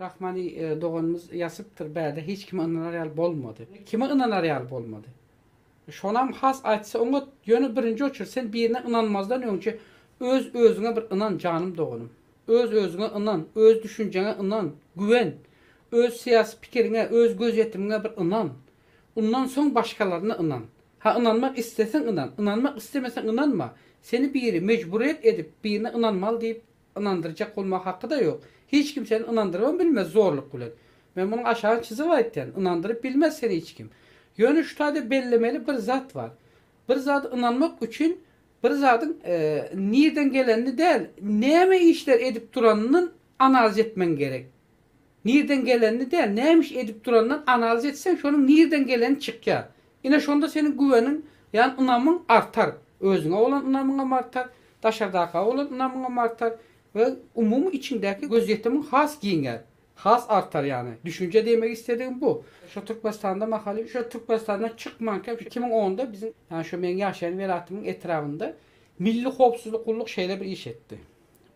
Rahmani doganymyz ýazypdyr, bäde hiç kime ynanar ýaly bolmady. Kime ynanar ýaly bolmady? Şonam has aýtsa oňat, ýöne birinji oçert sen birine ynanmazdan öňçe öz özüňe bir ynan janym doganym. Öz özüňe ynan, öz düşünjeňe ynan, güwen. Öz syýasy pikiriňe, öz gözýetimiňe bir ynan. Undan soň başgalaryna ynan. Ha ynanmak isleseň ynan, ynanmak islemeseň ynanma. Seni biri mejburyýet edip birine ynanmaly diýip Ynandyrjak bolmak hakyda ýok. Hiç kim seni ynandyrybam bilmez zorluk bilen. Men munuň aşagyny çyzyp aýtýan, ynandyryp bilmez seni hiç kim. Ýöne şu taýda bellemeli bir zat bar. Bir zada ynanmak üçin bir zadyň nirden gelenini däl, näme işler edip duranyndan analiz etmegiň gerek. Nirden gelenini däl, näme iş edip duranyndan analiz etseň şonuň nirden geleni çykýar. Ine şonda seniň güweniň, ýan ynamyň artar. Özüňe bolan ynamyňam artar, daşardakyga bolan ynamyňam artar we umumy içiňdäki gözýetimiň has giňär, has artar ýany. Düşünje diýmek istedigim bu. Şo Türkmenistanda mahaly şo Türkmenistandan çykmanka iki müň onda biziň ýani şo meň ýaşaýan welatymyň etrabynda Milli howpsuzlyk gulluk şeýle bir iş etdi.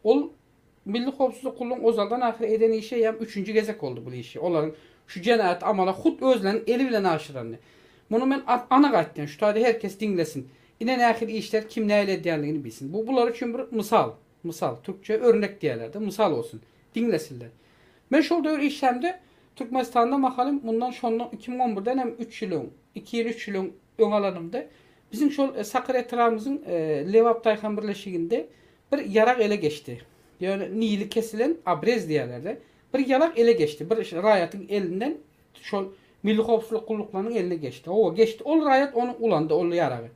Ol Milli howpsuzlyk gullugyň ozaldan ahyr eden işi eýýäm üçünji gezek boldy bul işi, olaryň şu jenaýaty amala hut özleriniň eli bilen aşyrany. Muny men anyk aýtdym, şu taýda her kes diňlesin. Ine nähili işler kim nähili edýändigini bilsin. Bu bular üçin bir mysal, mysal, türkçe örnek diýerler-de, mysal bolsun, diňlesinler. Men şol döwür işlämde Türkmenistanda mahalym mundan şondan iki müň on birden hem üç ýyl öň, iki ýyl, üç ýyl öň öň alanymda biziň şol Sakarýa etrabymyzyň Lebap daýhan birleşiginde Bir ýarak ele geçdi. Ýöne nili kesilen abrez diýerler-de. Bir ýarak ele geçdi. Bir raýatyň elinden şol Milli howpsuzlyk gulluklarynyň eline geçdi. Hawa, geçdi. Ol raýat ony ulandy, ol ýaragy.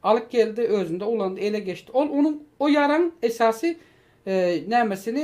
Alyp geldi, özünde ulandy, ele geçdi. Ol onuň, o ýaragyň esasy nämesini,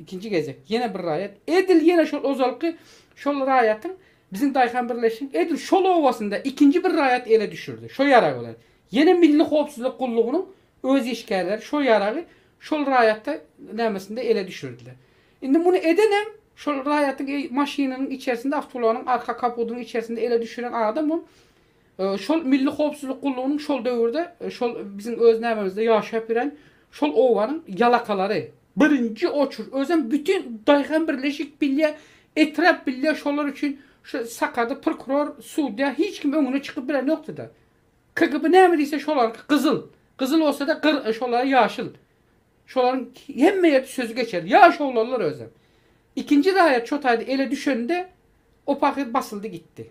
Ikinji gezek, ýene bir raýat, edil ýene şol ozalky şol raýatyň, biziň daýhan birleşigiň edil şol obasynda ikinji bir raýat ele düşürdi. Şo ýarag bilen, ýene Milli howpsuzlyk gullugynyň öz işgärleri şo ýaragy şol raýata nämesinde ele düşürdiler. Indi muny edenem, şol raýatyň maşynynyň içerisinde, awtoulagynyň arka kapudynyň içerisinde ele düşüren adamam Şol Milli howpsuzlyk gullugynyň şol döwürde şol biziň öz nämemizde ýaşap ýören şol obanyň ýalakalary. Birinji oçur özem bütin daýhan birleşik bilýä, etrap bilýä şolar üçin şu Sakarda prokuror, sudýa hiç kim öňüne çykyp bilenokdyda. KGB näme diýse şolarky gyzyl, gyzyl bolsada gyr şolara ýaşyl. Şolaryň hemme ýerde sözi geçerli. Ýaş oglanlar özem. Ikinji raýat şo taýda ele düşende o pahyr basyldy gitdi.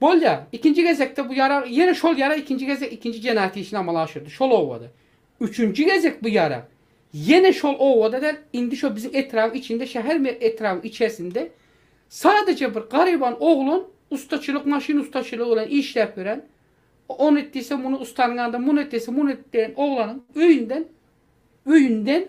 Bolýar. Ikinji gezekde bu ýarag, ýene şol ýarag ikinji gezek ikinji jenaýat işini amala aşyrdy, şol obada. Üçünji gezek bu ýarag, ýene şol obada däl, indi şo biziň etrabyň içinde, şäher me etrabyň içersinde sadaja bir garyban oglan ustaçylyk, maşyn ustaçylygy bilen işläp ýören, ony et diýse, muny ustanyň ýanynda, muny et diýse, muny et diýen oglanyň öýünden, öýünden,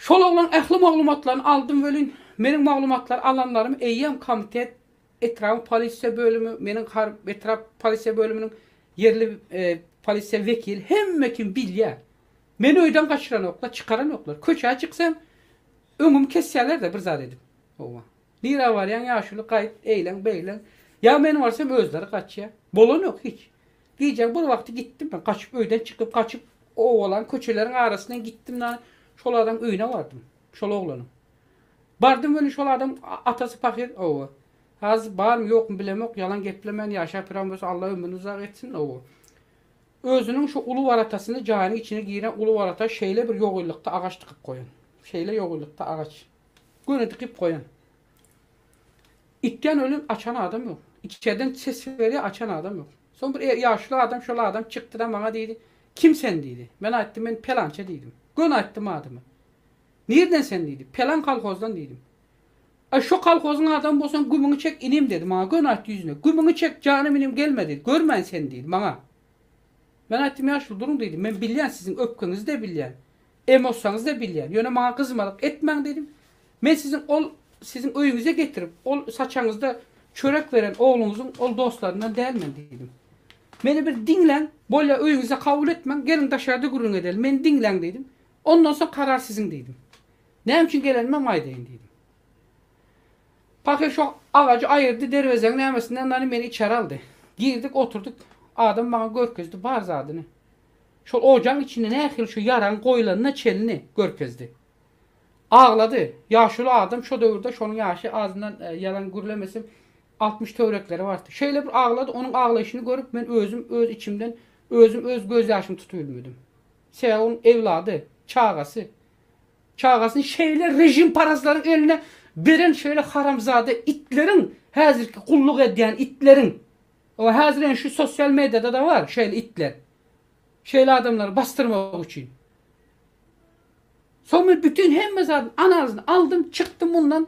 Şol oglan ähli maglumatlaryny aldym welin, meniň maglumatlary alanlarym eýýäm komitet, etrabyň polisiýa bölümi, meniň etrap polisiýa bölüminiň ýerli polisiýa wekili hemme kim bilýär. Meni öýden gaçyranoklar, çykaranoklar. Köçä çyksam, öňümi kesýärler-de bir zat edip. Howwa. Nirä barýaň ýaşuly, gaýt, eýlen, beýlen. Ýa men barsam özleri gaçýar. Bolanok hiç. Gijäň bir wagty gitdim men gaçyp öýden çykyp gaçyp owalan köçeleriň arasyndan gitdim da şol adam öýüne bardym şol oglanyň. Bardym welin şol adam atasy pahyr owo. Hazir barmy ýokmy bilemok ýalan geplemän ýaşap ýören bolsa Alla ömrüni uzak etsin owo. Özüniň şu uly waratasyny jaýynyň içine giren uly warata şeýle bir ýogylykda agaç dykyp goýan. Şeýle ýogylykda agaç. Göni dykyp goýan. Itden ölen açan adam ýok. Içerden ses berýär, açan adam ýok. Soň bir e, ýaşuly adam, şol adam çykdy-da maňa diýdi, Kim sen diýdi. Men aýtdym, men pelança diýdim. Göni aýtdym adymy. Nirden sen diýdi. Pelan kolhozdan diýdim. Aý, şo kolhozyň adamy bolsaň gümüňi çek inim dedi maňa, göni aýtdy ýüzüne. Gümüňi çek, janym inim gelme diýdi. Görmäýin seni diýdi maňa. Men aýtdym, ýaşuly duruň diýdim. Men bilýän siziň öpkeňizi-de bilýän. Emotsaňyzda bilýän. Ýöne maňa gyzmalyk etmäň diýdim. Men siziň ol siziň öýüňize getirip, ol saçaňyzda çörek beren ogluňyzyň ol dostlaryndan dälmen diýdim. Meni bir diňläň, bolýa öýüňizde kabul etmäň, geliň daşarda gürrüň edeli, meni diňläň diýdim. Ondan soň karar siziň diýdim. Näme üçin gelenimem aýdaýyn diýdim. Pahyr şo agajy aýyrdy, derwezeň nämesinden dany meni içeri aldy. Girdik oturdyk. Adam maňa görkezdi bar zadyny. Şol ojagyň içinde nähili şu ýaragy goýlanyna çenli görkezdi. Aglady. Ýaşuly adam şo döwürde, şonuň ýaşy azyndan ýalan gürlemesem, altmyş töwerekleri bardy. Şeýle bir aglady, onuň aglaýşyny görüp, men özüm öz içimden özüm öz gözýaşymy tutubilmedim. Sebäbi onuň ewlady, çagasy, çagasyny şeýle režimparazlaryň eline beren şeýle haramzada itleriň, häzirki gulluk edýän itleriň, Hawa häzir ýene şu sosial mediýada-da bar şeýle itler. Şeýle adamlary basdyrmak üçin. Soň men bütin hemme zadyň analizyny aldym, çykdym mundan.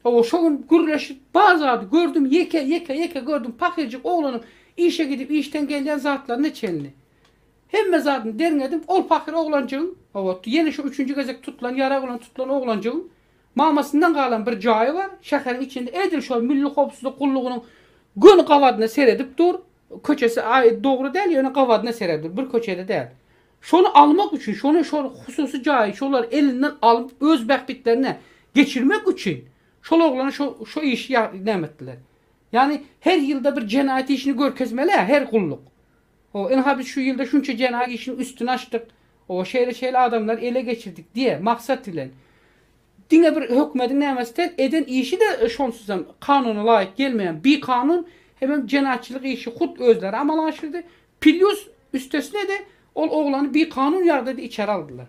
Hawa şo gün gürleşip bar zady gördüm, ýeke, ýeke, ýeke gördüm. Pahyrjyk oglanyň işe gidip işden gelýän zatlaryna çenli. Hemme zadyny derňedim, ol pahyr oglanjygyň, hawa, ýene şu üçünji gezek tutulan, ýarag bilen tutulan oglanjygyň Mamasyndan galan bir jaýy bar, şäheriň içinde edil şol Milli howpsuzlyk gullugynyň göni gabadyna seredip dur, köçesi dogry däl, ýöne gabadyna seredip dur, bir köçede däl. Şony almak üçin, şony şol hususy jaýy şolar elinden alyp öz bähbitlerine geçirmek üçin şol oglana şo şo işi näme etdiler. Ýagny her ýylda bir jenaýat işini görkezmeli-ä her gulluk. Ho, ynha biz şu ýylda şunça jenaý işini üstüni açdyk, o, şeýle-şeýle adamlary ele geçirdik diýe, maksat bilen. Diňe bir hökümediň nämesi tel, eden işi-de şonsuzam kanuna laýyk gelmeýän bikanun, hemem jenaýatçylyk işi hut özleri amala aşyrdy, plýus üstesine-de ol oglany bikanun ýagdaýda içeri aldylar.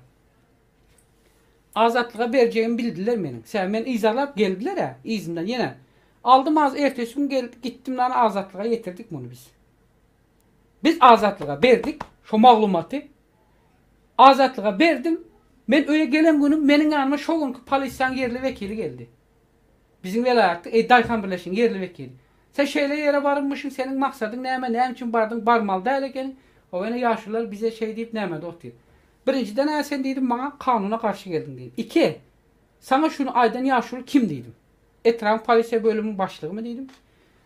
Azatlyga berjegimi bildiler meniň. Sebäbi meni yzarlap geldiler-ä, yzymdan ýene. Aldym az, ertesi gün geldi, gitdim-de ony azatlyga ýetirdik muny biz. Biz Azatlyga berdik şo maglumaty. Azatlyga berdim. Men öýe gelen günüm meniň ýanyma şo günki polisiýaň ýerli wekili geldi. Biziň welaýatda e, daýhan birleşigiň ýerli wekili. Sen şeýle ýere barybmyşyň, seniň maksadyň näme, näme üçin bardyň, barmaly däl ekeniň. Hawa ine ýaşulylar bize şeý diýip nämädi otyr. Birinjiden-ä sen diýdim maňa kanuna garşy geldiň diýdim. Iki, saňa şuny aýdan ýaşuly kim diýdim. Etrabyň polisiýa bölüminiň başlygymy diýdim.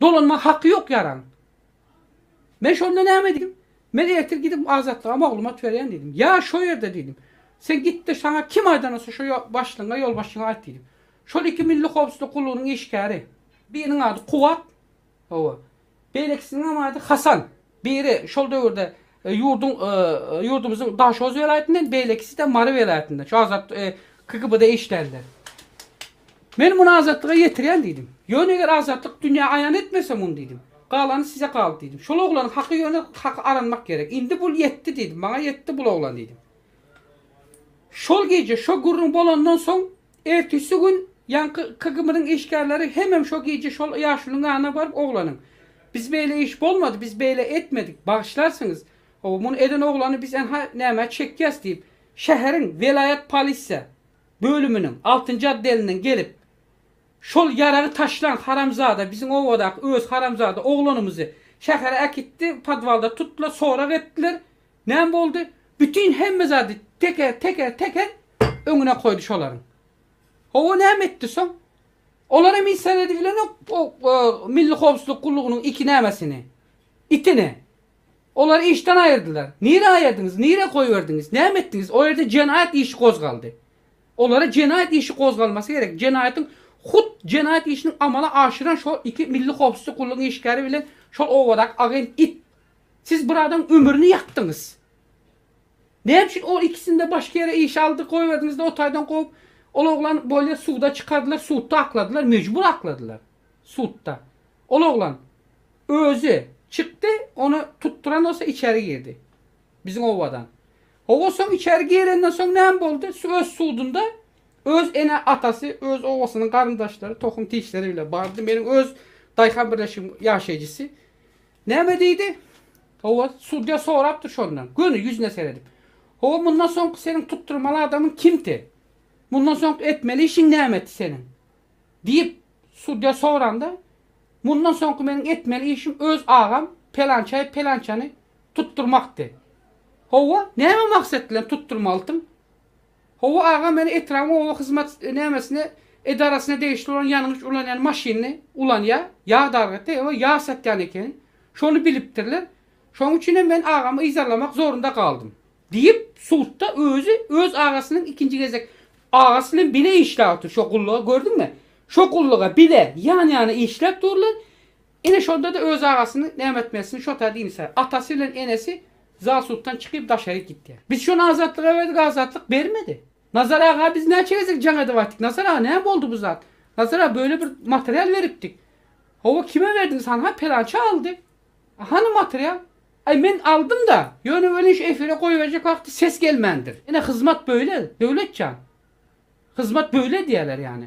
Dolanma haky ýok ýaran. Men şonda näme diýdim? Men ertir gidip Azatlyga maglumat berýän diýdim. Ýa şo ýerde diýdim. Sen git-de saňa kim aýdanysy şo başlygyňa, ýolbaşçyňa aýt diýdim. Şol iki milli howpsuzlyk gullugynyň işgäri. Biriniň ady Kuwwat. Hawa. Beýlekisiniňem ady Hasan. Biri şol döwürde ýurduň ýurdumyzyň Daşoguz welaýatyndan, beýlekisi-de Mary welaýatyndan. Şu azat KGB-da işlänler. Men muny azatlyga ýetirýän diýdim. Ýöne eger azatlyk dünýä aýan etmese muny diýdim. Galany size galdy diýdim. Şol oglanyň haky ýöne haky aranmak gerek. Indi bul ýetdi diýdim. Maňa ýetdi bul oglan diýdim. Şol gije şo gürrüň bolandan soň Ertisi gün ýaňky KGB-niň işgärleri hemem şo gije şol ýaşulyň ýanyna baryp oglanyň, Biz beýle iş bolmady, biz beýle etmedik, bagyşlarsyňyz, hawa, muny eden oglany biz ynha nämä çekýäs diýip, şäheriň welaýat polisiýa bölüminiň altynjy otdelinden gelip, Şol ýaragy taşlan haramzada biziň obadaky öz haramzada oglanymyzy şähere äkitdi, podwalda tutdular, sorag etdiler, Näme boldy? Bütin hemme zady teker, teker, teker öňüne goýdy şolaryň. Hawa, näme etdi soň? Olar hem hiç zat edip bilenok, o Milli howpsuzlyk gullugynyň iki nämesini, itini. Olary işden aýyrdylar. Nirä aýyrdyňyz, nirä goýberdiňiz, näme etdiňiz? O ýerde jenaýat işi gozgaldy. Olara jenaýat işi gozgalmasy gerek. Jenaýatyň hut jenaýat işini amala aşyran şol iki Milli howpsuzlyk gullugynyň işgäri bilen şol obadaky agent it Siz bir adam ömrüni ýakdyňyz. Näme üçin ol ikisinde başga ýere işe aldy, goýberdiňizde o taýdan kowup, ol oglan bolýa suda çykardylar, sudda akladylar, mejbur akladylar. Sudda. Ol oglan özi çykdy, ony tutduran bolsa içeri girdi. Biziň obadan. Hawa soň içeri girenden soň näme boldy? Öz sudunda öz ene atasy, öz obasynyň garyndaşlary, tohum tişleri bile bardy. Meniň öz daýhan birleşigim ýaşaýjysy. Näme diýdi? Hawa, sudýa sorapdyr şondan, göni ýüzüne seredip. Hawa, mundan soňky seniň tutdurmaly adamyň kimti? Mundan soňky etmeli işiň nämeti seniň? diýip, sudýa soranda, Mundan soňky meniň etmeli işim öz agam pelançaýy pelançany tutdurmakdy. Hawa, näme maksat bilen tutdurmalydyň? Hawa aga men etrabyň oba hyzmat nämesine edarasyna degişli bolan ýangyç ulanýan maşynyny ulanýa ýag dargatýa we ýag satýan ekeni şony bilipdirler şoň üçinem men agamy yzarlamak zorunda galdym diýip sudda özi öz agasynyň ikinji gezek agasy bilen bile işläp otyr şo gulluga gördüňmi şo gulluga bile ýan ýana işläp durlar Ine şonda-da öz agasyny näme etmelisin şo tar dini sara. Atasy bilen enesi zasuddan çykyp daşary gitýär. Biz şony Azatlyga berdik Azatlyk bermedi. Nazar aga biz näçe gezek jaň edip aýtdyk Nazar aga näme boldy bu zat. Nazar aga böyle bir material beripdik. Hawa kime berdiňiz hanha pelançy aldy. A hany material. Aý men aldym da ýöne welin şu efire goýberjek wagty ses gelmändir. Ine hyzmat böyle Döwletjan. Hyzmat böyle diýerler ýany.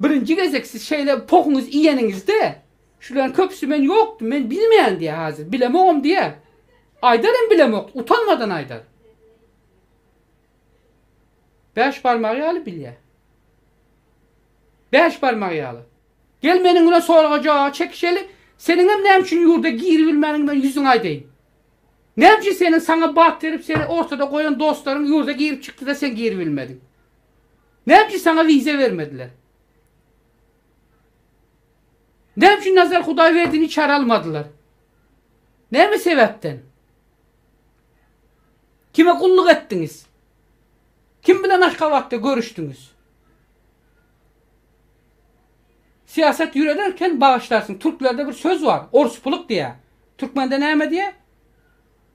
Birinji gezek siz şeýle pohuňyzy iýeniňizde, şularyň köpüsi men ýokdum, men bilmeýän diýer häzir, bilemogam diýer. Aýdar hem bilemok, utanmadan aýdar. Bäş barmagy ýaly bilýär. Bäş barmagy ýaly. Gel meniň bilen soraga-jogaby çekişeli, seniň hem näme üçin ýurda giribilmändigiňi men ýüzüňe aýdaýyn. Näme üçin seniň saňa bat berip, seni ortada goýan dostlaryň ýurda girip-çykdyda sen giribilmediň? Näme üçin saňa wiza bermediler? Näme üçin Nazar Hudaýberdini içeri almadylar? Näme sebäpden? Kime gulluk etdiňiz? Kim bilen Aşgabatda görüşdiňiz? Syýasat ýörederken bagyşlarsyň, türklerde bir söz bar, orspuluk diýýär. Türkmende näme diýýär?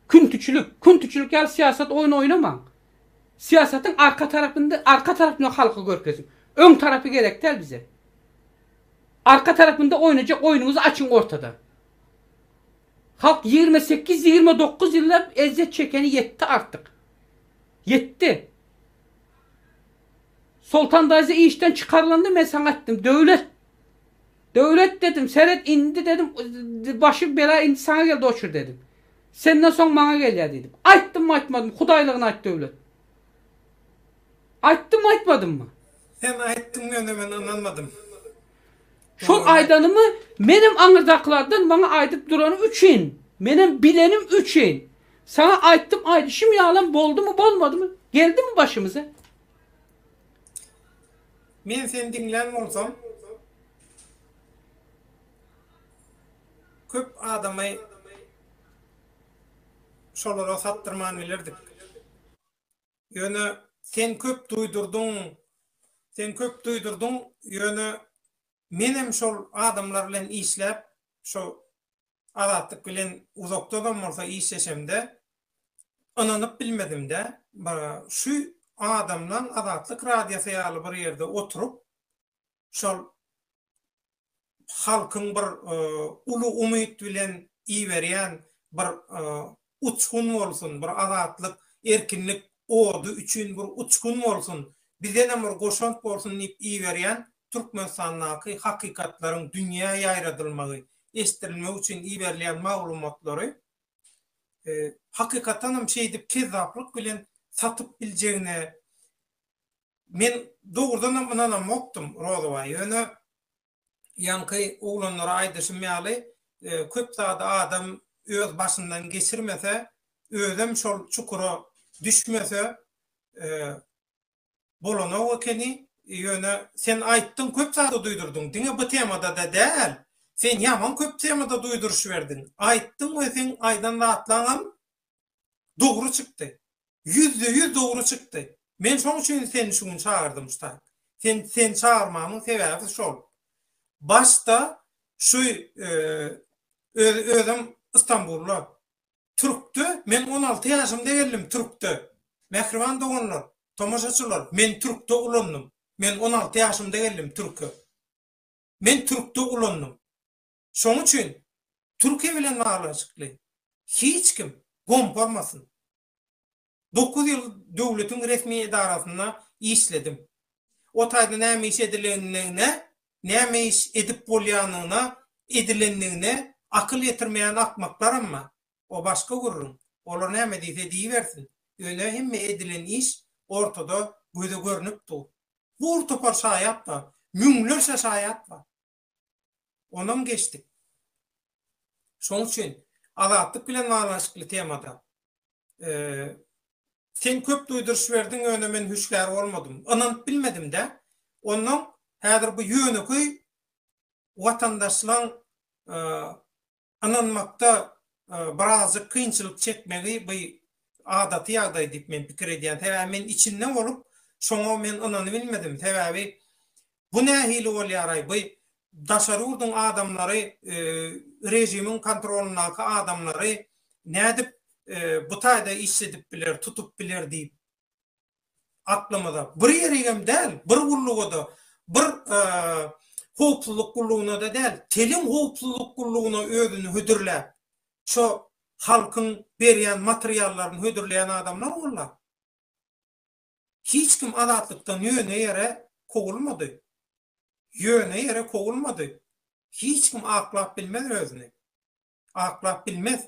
Küntüçilik. Küntüçilik ýaly syýasat oýny oýnamaň. Syýasatyň arka tarapynda arka tarapyny halka görkeziň. Öň tarapy gerek däl bize. Arka tarapynda oýnajak oýnuňyzy açyň ortada. Halk ýigrimi sekiz, ýigrimi dokuz ýyllap ezýet çekeni ýetdi artyk. Ýetdi. Soltan daýza işden çykarylanda men saňa aýtdym, döwlet Döwlet dedim, seret indi dedim, başy bela indi saňa geldi oçur dedim. Senden soň maňa gelýär diýdim. Aýtdymmy aýtmadym, hudaýlygyny aýt Döwlet. Aýtdymmy aýtmadymmy? Sen aýtdyň ýöne men ynanmadym. Şol aýdanymy menem aňyrdakylardan maňa aýdyp durany üçin, menem bilenim üçin saňa aýtdym aýdyşym ýalam boldumy bolmadymy, geldimi başymyza? Men seni diňlän bolsam, köp adamy şolara satdyrman bilerdik. Ýöne sen köp duýdurdyň, sen köp duýdurdyň, ýöne menem şol adamlar bilen işläp, şo Azatlyk bilen uzakdadam bolsa işleşemde, ynanyp bilmedim-dä. Bir şu adamlaň Azatlyk radiosy ýaly bir ýerde oturyp, şol halkyň bir uly umyt bilen iberýän bir uçgun bolsun, bir azatlyk, erkinlik ody üçin bir uçgun bolsun, bizenem bir goşant bolsun diýip iberýän Türkmenistandaky hakykatlaryň dünýä ýaýradylmagy, eşidilmegi üçin iberilýän maglumatlary hakykatanem şeýdip kezzaplyk bilen satyp biljegine men dogrudanam ynanamokdym, Rozowaý. Ýöne ýaňky oglanlara aýdyşym ýaly, köp zady adam öz başyndan geçirmese, özem şol çukura düşmese bolanok ekeni. Ýöne sen aýtdyň, köp zady duýdurdyň. Diňe bu temada-da däl, sen ýaman köp temada duýduryş berdiň. Aýtdyň we seň aýdan zatlaňam dogry çykdy. Ýüzde ýüz dogry çykdy. Men şoň üçin seni şu gün çagyrdym Stark. Sen seni çagyrmamyň sebäbi şol. Başda şu öz özüm Istanbulda Türkde men on alty ýaşymda geldim Türkde. Mähriban doganlar, tomaşaçylar men Türkde ulandym. Men on alty ýaşymda geldim Türke. Men Türkde ulandym. Şoň üçin Türkiýe bilen baglanyşykly hiç kim gomparmasyn. Dokuz ýyl döwletiň resmi edarasynda işledim. O taýda näme iş edilendigine, näme iş edip bolýanyna, edilendigine akyl ýetirmeýän akmaklaram bar. O başga gürrüň. Olar näme diýse diýibersin. Ýöne hemme edilen iş ortada göze görnüp dur. Bur topar şaýat bar. Müňlerçe şaýat bar. Onam geçdik. Şoň üçin Azatlyk bilen baglanyşykly temada Sen köp duýduryş berdiň, ýöne men hüşgär bolmadym. Ynanyp bilmedim-dä. Onnoň häzir bu ýönekeý watandaşlaň ynanmakda birazjyk kynçylyk çekmegi bu adaty ýagdaý diýip men pikir edýän. Sebäbi men içinde bolup şoňa men ynanybilmedim. Sebäbi bu nähili bolýaraý bu daşary ýurduň adamlary režimiň kontrolyndaky adamlary nädip bu taýda işledip biler, tutup biler diýip. aklymyza bir ýerigem däl, bir gulluga-da, bir howpsuzlyk gullugyna-da däl, telim howpsuzlyk gullugyna özüni hödürläp, şo halkyň berýän materiallaryny hödürleýän adamlar walla. Hiç kim Azatlykdan ýöne ýere kowulmady. Ýöne ýere kowulmady. Hiç kim aklap bilmez özüni. Aklap bilmez.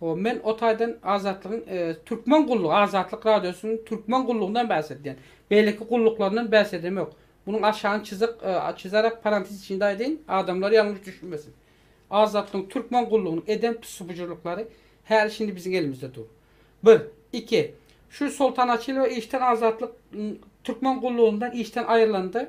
Hoo men o taýdan Azatlygyň Türkmen gullugy Azatlyk radiosynyň Türkmen gullugyndan bäs edýän. Beýleki gulluklaryndan bäs edemok. Munuň aşagyny çyzyk çyzarak parantiz içinde aýdaýyn, adamlar ýalňyş düşünmesin. Azatlygyň Türkmen gullugynyň eden tussubujurlyklary häli şindi biziň elimizde dur. Bir. Iki. Şu Soltanaçylowa işden Azatlyk Türkmen gullugyndan işden aýrylanda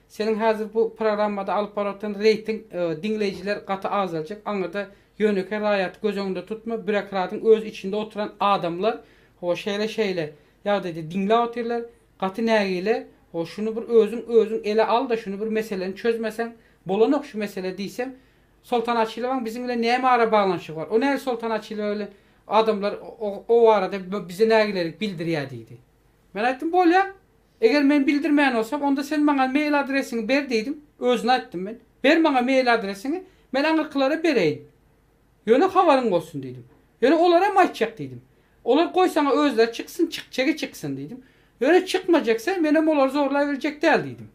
Seniň häzir bu programmada alyp baratan reýting diňleýjiler gaty azaljak, aňyrda ýönekeý raýaty göz öňünde tutma, býurokradyň öz içinde oturan adamlar ho şeýle şeýle ýagdaýda diňläp otyrlar, gaty nägile, ho şuny bir özüň özüň ele al-da şuny bir meseleni çözmeseň bolanok şu mesele diýsem, Soltan Açylowaň biziň bilen näme ara baglanyşygy bar, o näl Soltan Açylowa bilen adamlar o barada bize nägilelik bildirýä diýdi. Men aýtdym bolýa, Eger men bildirmän bolsam, onda sen maňa mail adresiňi ber diýdiň, özüne aýtdym men. Ber maňa mail adresiňi, men aňyrkylara bereýin. Ýöne habaryň bolsun diýdim. Ýöne olar hem aýtjak diýdim. Olar goý saňa özleri çyksyn, çykjagy çyksyn diýdim. Ýöne çykmajaksa, men hem olary zorlaýberjek däl diýdim.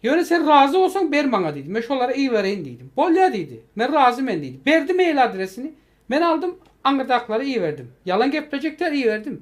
Ýöne sen razy bolsaň ber maňa diýdim. Men şolara ibereýin diýdim. Bolýa diýdi. Men razy men diýdi. Berdi mail adresini. Men aldym, aňyrdakylara iberdim. Ýalan geplejek däl, iberdim.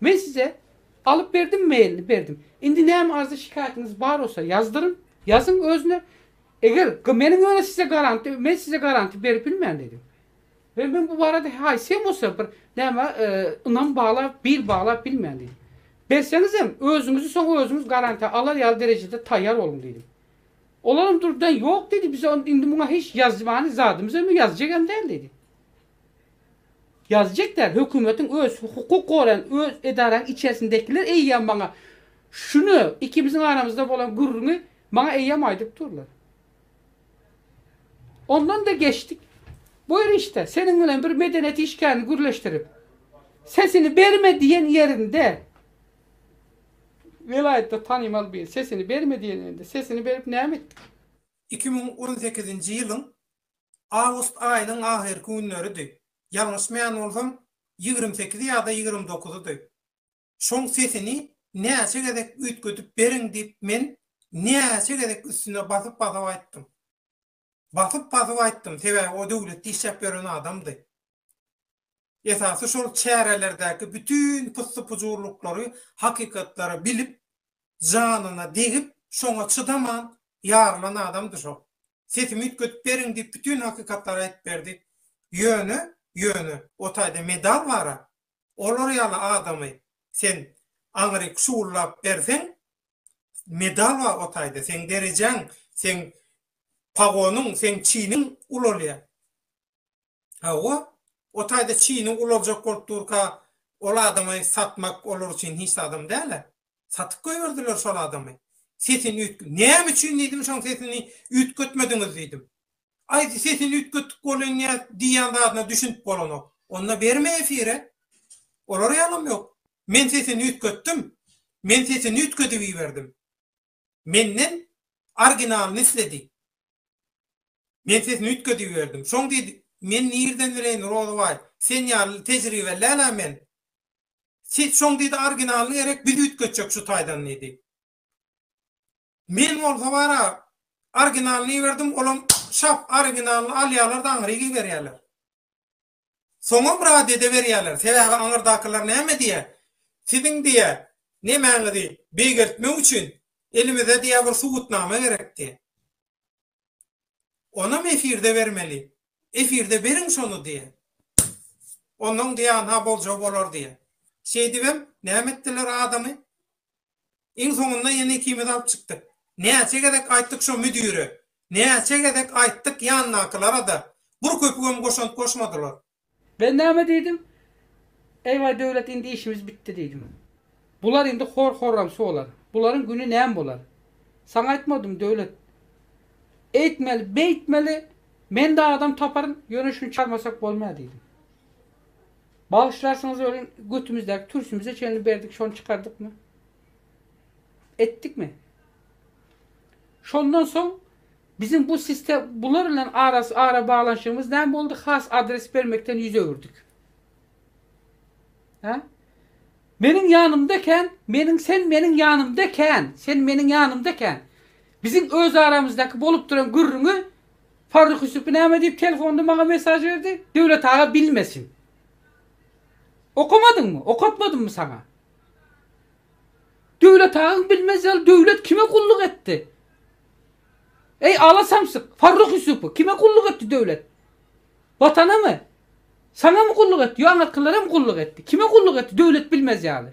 Men size alyp berdim mailini berdim indi näme arzy şikaýatyňyz bar bolsa ýazdyryn ýazyň özüne eger meniň öne size garanti men size garanti berip bilmen dedim we men bu barada haýsy hem bolsa bir näme ynam bagla bil bagla bilmen dedim berseňizem özüňizi soň özüňiz garantiýa alar ýaly derejede taýýar boluň dedim olaram durdan ýok dedi bize indi muňa hiç ýazmany zadymyz hem ýazjak hem däl dedi Ýazyjyk däl, hökümetiň öz, hukuk goraýan öz edaraň içersindekiler eýýäm maňa şuny, ikimiziň aramyzda bolan gürrüňi maňa eýýäm aýdyp durlar. Ondan-da geçdik. Buýr işde, seniň bilen bir medeniýet işgärini gürleşdirip, sesini berme diýen ýerinde, welaýatda tanymal biri, sesini berme diýen ýerinde, sesini berip näme etdik? Iki müň on sekizinji ýylyň awgust aýynyň ahyrky günleridi, ýalňyşmaýan bolsam, ýigrimi sekizi ýa-da ýigrimi dokuzydy. Şoň sesini näçe gezek üýtgedip beriň diýip men näçe gezek üstüne basyp-basyp aýtdym. Basyp-basyp aýtdym, sebäbi o döwletde işläp ýören adamdy. Esasy şol çärelerdäki bütin pyssy-pujurlyklary, hakykatlary bilip, janyna degip, şoňa çydaman ýarylan adamdy şol. Sesimi üýtgedip beriň diýip bütin hakykatlary aýdyp berdi. Ýöne, ýöne, o taýda medal bar-a. Olar ýaly adamy sen aňryk şuwullap berseň, medal bar o taýda, seň derejäň, seň pagonyň, seň çiniň ulalýar. Hawa, o taýda çyny ulanjak bolup durka, ol adamy satmak olar üçin hiç zadam däl-ä. Satyp goýberdiler şol adamy. Sesini üýtge-, Näme üçin diýdim, şoň sesini üýtgetmediňiz diýdim. Aý, sesini üýtgetdik bolýan ýa diýýän zadyna düşünip bolanok. Onda berme efire. Olar ýalam ýok. Men sesini üýtgetdim. Men sesini üýtgedip iberdim. menden originalyny isledi. Men sesini üýtgedip iberdim. Şoň diýdi, Men nirden bileýin, Rozabaý, sen ýaly tejribeli-ä men. Siz şoň diýdi originalyny gerek biz üýtgetjek şu taýdan diýdi. Men bolsa bar-a, originalyny iberdim, olam şap originalyny alýarlar-da aňryk iberýärler. Soňam rad edeberýärler. Sebäbi aňyrdakylar näme diýýär? Siziň diýýär, nemäňizi beýgeltmek üçin elimize diýýär bir subutnama gerek diýýär. Onam efirde bermeli. Efirde beriň şony diýýär. Onnoň diýýär ynha boljagy bolar diýýär. Şeýdibem näme etdiler adamy? Iň soňunda ýene ikimiz alyp çykdyk. Näçe gezek aýtdyk şo müdüre, näçe gezek aýtdyk ýandakylara-da, bir köpügem goşant goşmadylar. Ben näme diýdim? Eý-waý, Döwlet, indi işimiz bitdi diýdim. Bular indi hor-horramsy bolar. Bularyň güni näme bolar? Saňa aýtmadym, Döwlet. Eýtmeli, beýtmeli, men-de adam taparyn, ýöne şuny çalmasak bolmaýar diýdim. Bagyşlarsyňyz welin götümizdäki türsümize çenli berdik şony çykardykmy? Etdikmi? Şondan soň biziň bu sistem bular bilen arasy ara baglanyşygymyz näme boldy has adres bermekden ýüz öwürdik. Hä? Meniň ýanymda ekän, meniň sen meniň ýanymda ekän, sen meniň ýanymda ekän. Biziň öz aramyzdaky bolup duran gürrüňi Farruh Ýusup näme diýip telefonda maňa mesaž berdi? Döwlet aga bilmesin. Okamadyňmy? Okatmadymmy saňa? Döwlet agaň bilmez ýaly döwlet kime gulluk etdi? Eý ala samsyk, Farruh Ýusupy kime gulluk etdi döwlet? Watanamy? Saňamy gulluk etdi? Ýo aňyrkylaram gulluk etdi. Kime gulluk etdi döwlet bilmez ýaly?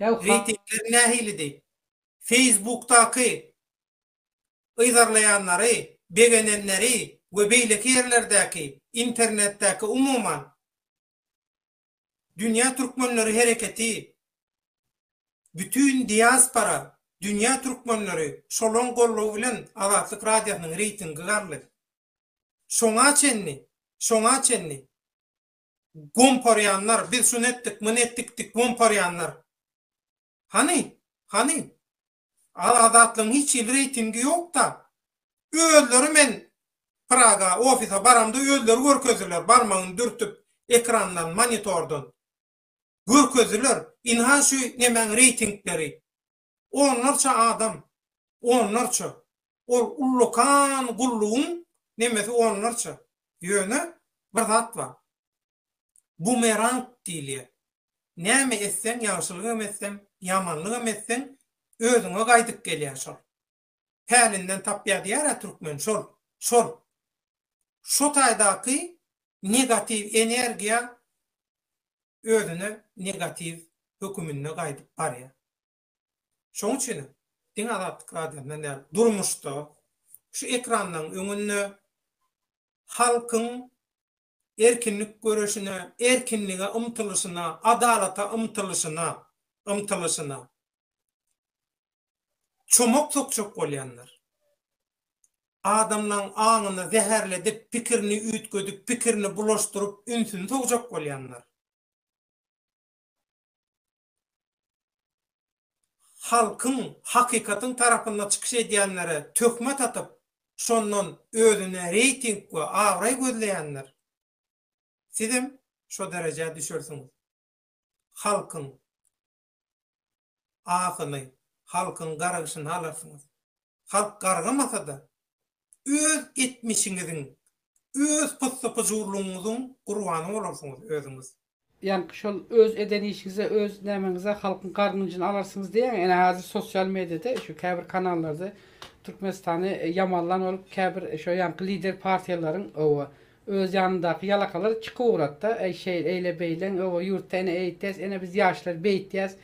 Reýtingler nähilidi? Facebookdaky yzarlaýanlary, begenenleri we beýleki ýerlerdäki, internetdäki umuman, Dünýä Türkmenleri hereketi, bütin diaspora, dünýä türkmenleri, şolaň goldawy bilen Azatlyk Radiosynyň reýtingi galdy. Şoňa çenli, şoňa çenli. gomparýanlar, biz şuny etdik, muny etdik diýip gomparýanlar. Hany, hany? Azatlygyň hiç hili reýtingi ýok-da. Özleri men Praga ofise baramda özleri görkezdiler, barmagyny dürtüp, ekrandan, monitordan. Görkezdiler. Ynha şu nemäň reýtingleri. onlarça adam, onlarça, ol ullakan gullugyň nemesi onlarça, ýöne bir zat bar, bumerang diýilýär, näme etseň, ýagşylygam etseň, ýamanlygam etseň, özüňe gaýdyp gelýär şol. pälinden tapýar diýär-ä türkmen, şol, şol. Şo taýdaky negatiw energiýa özüne negatiw höküminde gaýdyp barýar. Şonuň üçinem, diňe Azatlyk Radiosyndan däl, durmuşda, şu ekranlaryň öňünde halkyň erkinlik göreşine, erkinlige ymtylyşyna, adalata ymtylyşyna, ymtylyşyna çomak sokjak bolýanlar, adamlaň aňyny zäherledip, pikirini üýtgedip, pikirini bulaşdyryp, ünsüni sowjak bolýanlar. halkyň, hakykatyň tarapynda çykyş edýänlere töhmet atyp, şondan özüne reýting we abraý gözleýänler, sizem şo derejä düşersiňiz. Halkyň. asyly halkyň gargyşyny alarsyňyz. Halk gargamasa-da, öz etmişiňiziň, öz pyssy-pyjurlygyňyzyň gurbany bolarsyňyz özüňiz. Ýaňky şol öz eden işiňize, öz nämeňize halkyň gargynjyny alarsyňyz diýýäň. Ene hazir sosial mediada şu käbir kanallarda Türkmenistany ýamanlan bolup käbir şo ýaňky lider partiýalaryň owa Öz ýanyndaky ýalakalar iki kowratda, Äý, şeýle, eýle, beýleň, öw, ýurtda ene eýtýäs, ene biz ýaşlar beýtýäs.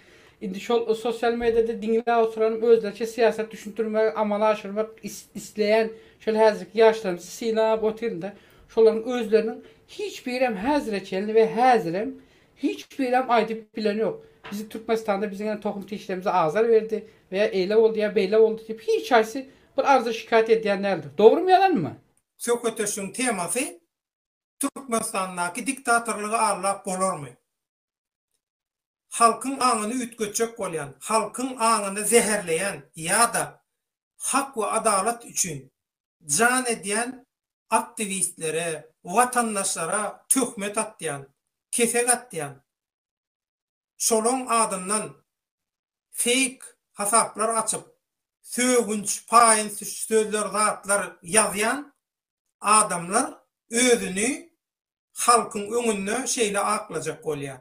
Indi şol sosial mediýada diňläp oturan, özlerçe syýasat düşündirmek, amala aşyrmak isleýän şol häzirki ýaşlarymyzy synlap otyryn-da, şolaryň özleriniň hiç birem häzire çenli we häzirem hiç birem aýdyp bilen ýok. Biziň Türkmenistanda biziň ene tohum-tişlerimize azar berdi we ýa eýle boldy, ýa beýle boldy diýip hiç haýsy bir arza-şikaýat edýän däldir. Dogrumy, ýalanmy? söhbetdeşligiň temasy Türkmenistandaky diktatorlygy aglap bolarmy? Halkyň aňyny üýtgetjek bolýan, halkyň aňyny zäherleýän ýa-da hak we adalat üçin jan edýän aktiwistlere, watandaşlara töhmet atýan, kesek atýan şolaň adyndan feýk hasaplar açyp, sögünç, paýyn-süç sözler zatlar ýazýan adamlar özüni halkyň öňünde şeýle aklajak bolýar.